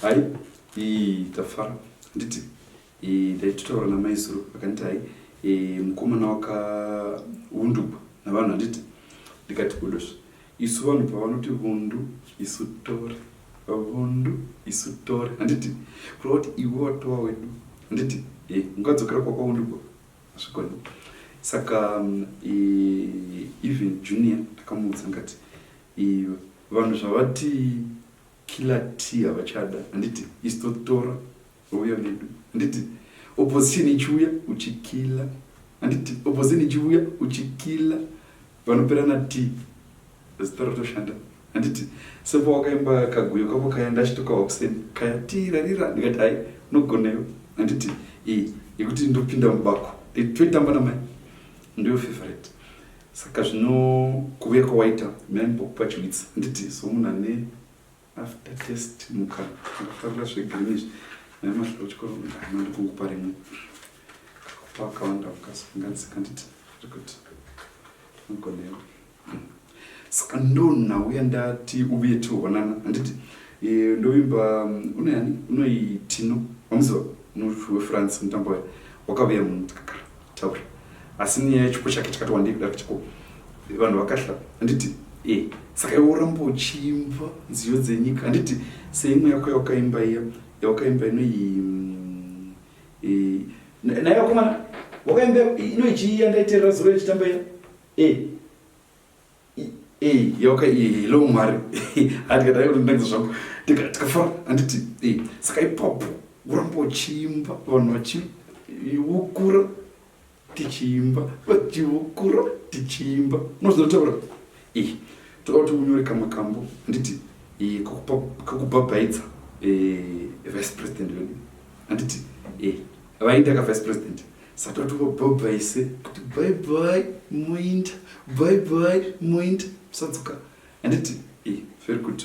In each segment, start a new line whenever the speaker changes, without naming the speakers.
hai iyi tafara nditi ndaitotaura namaizuru akanditi hai mukomana wakaundugwa navanhu handiti ndikati kudosva Isu vanhu pavanoti vundu isu tore vundu isu tore handiti kureva kuti iwe watova wedu handiti e, ungadzokera kwakwaundu ko hazvigoni saka e, even junior ndakamuudza ngati e, vanhu zvavati killer t havachada handiti isu totora Uyo ndidu. Handiti opposition ichiuya uchikila. Handiti opposition ichiuya uchikila. Vanoperana tea. Zitoro toshanda. Handiti sepa wakaimba kaguyo kako kaya ndachitokawa kuseni kaya tirarira ndikati hai unogoneyo. Handiti iyi yekuti ndopinda mubako toitamba namai ndiyo favorite saka zvino kuuya kwawaita maimbokupachwitsa handiti so munhu ane After test muka akafarira zvegreen izvi nai masvika kuchikoro ndama ndikungupa rimwe kakupa akawanda mukasanganisa kanditi iri kuti anogonewa saka ndonhauya ndati uye tioonana handiti eh, ndovimba mm, unoyani unoitino wamuziva wefrance mutambo waye wakavuya munhu tikakara Taura. Asi nyaya yechipo chake chakati wandei kudaro chiko. Vanhu vakahla. Anditi eh saka iwe uramba uchiimba nziyo dzenyika. Anditi seimwe yako yawakaimba iya yawakaimba inoyi mm, eh na- nayo komana wakaimba inoichiya ndaiterera zuro yechitamba iya. Eh Hey, yoka iye hello mwari handikadai kuti ndinangiza zvangu tikafara handiti hey, saka ipapo uramba uchiimba vanhu vachiukura tichiimba vachiukura tichiimba unozinotaura hey, toda kuti unyore kamwe kambo handiti hey, kakubhabhaidza hey, vice president vedu handiti hey, vaindaka vice president satotoko bhobha ise kuti bye bye moinda bye bye moinda musadzoka handiti e eh, very good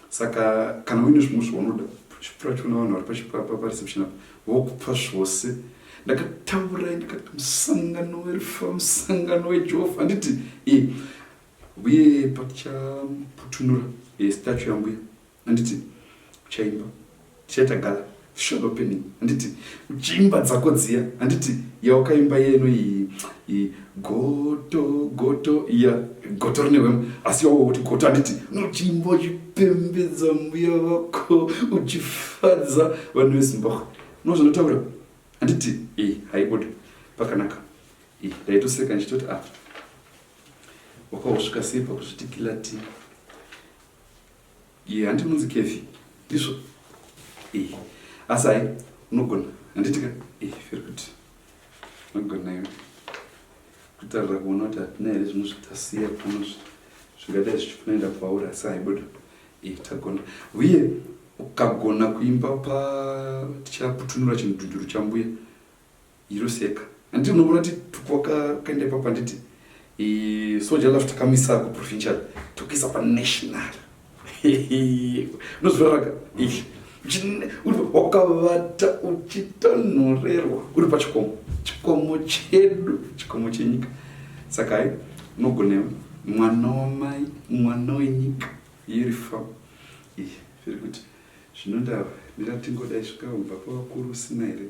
saka kana uine zvimwe zvaunoda chipura chona vanhu vari pachipapa pareception apa vokupa zvose ndakataurai ndikati musangano werufa musangano wejehova handiti e eh, uye patichaputunura e eh, statu yambuya Handiti uchaimba tichaita gala short opening handiti uchiimba dzako dziya handiti yawakaimba yeno iyi goto goto iya goto rine hwema asi yawo kuti goto handiti unochiimba uchipembedza mbuya vako uchifadza vanhu vezimbabwe no zvinotaura handiti i haibude pakanaka i ndaitoseka ndichitoti a ah, wakausvika sei pakuzvitikila ti Iye hanti munzi Kevi. Ndizvo. Eh. Asi hai unogona. Handiti ka? Eh, very good. Unogona iwe. Kutarira kuona kuti hatina here zvimwe zvitasiya pano zvingadai zvichikunoenda kwauri asi haibuda. Eh, tagona. Uye ukagona kuimba pa tichaputunura chimudhunduru chambuya. Hero seka. Anditi unobona ti tukwaka kaenda ipapo anditi i soja lafu takamisa ku provincial tukisa pa national. Unozviraraka. Ish. Wakavata uchitonhorerwa uri pachikomo. Chikomo chedu, chikomo chenyika. Saka hai unogona mwana wamai, mwana wenyika iri fa. Ish. Zviri kuti zvinondava ndira tingodai zvikaumba pavakuru usina here.